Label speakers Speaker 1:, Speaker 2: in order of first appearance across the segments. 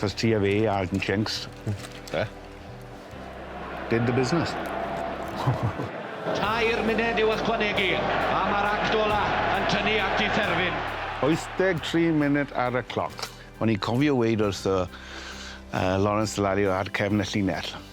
Speaker 1: Cos ti a fi a Alton Jenks. Hmm. Be? Did the business.
Speaker 2: Tair munud i'w ychwanegu a mae'r act ola yn tynnu at ei therfyn. 83
Speaker 1: munud ar y cloc. O'n i'n cofio weud wrth y yy Lawrence Dallario ar cefn y llinell.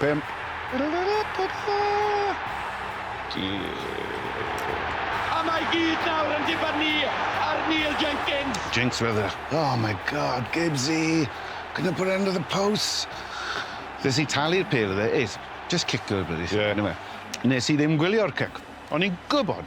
Speaker 1: Pump.
Speaker 2: A mae gyd nawr yn dibynnu ar Neil Jenkins. Jinx wedd e.
Speaker 1: Oh my God, Gibbsy! Can you put end to the posts? Nes i talu'r pêl iddo fe. Ace, just kick her bloody thing. Ie. Nes i ddim gwylio'r cic. O'n i'n gwbod!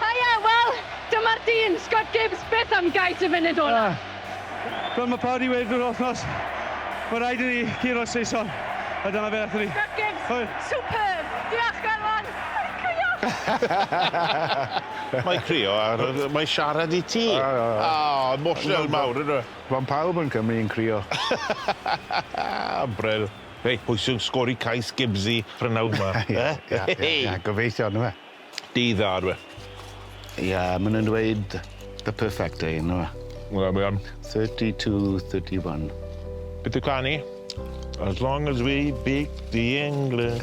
Speaker 3: Haia! Wel, dyma'r dyn! Scott Gibbs, beth am gais y funud ola? Ah! Fel mae
Speaker 4: pawb wedi weud drwy'r wythnos, mae rhaid i ni guro Saeson, a dyna fe aethon ni. Scott Gibbs, Hwyl!
Speaker 3: Superb! Diolch, Garfan! Mae'n crio! Mae
Speaker 5: crio a mae siarad i ti. O! O! Emotional mawr yndyw e? Mae pawb yn Cymru
Speaker 1: yn crio.
Speaker 5: Bril. Hei, pwy sy'n sgori cais Gibbsy prynhawn 'ma? Ie, ie, ie,
Speaker 1: gobeithio, yndyfe? Dydd dda ydyw e.
Speaker 5: Ie,
Speaker 1: maen nhw'n dweud the perfect day yn nhw e? Wel, mae am. 32, 31. Beth yw
Speaker 5: cân i? As long as we beat the English.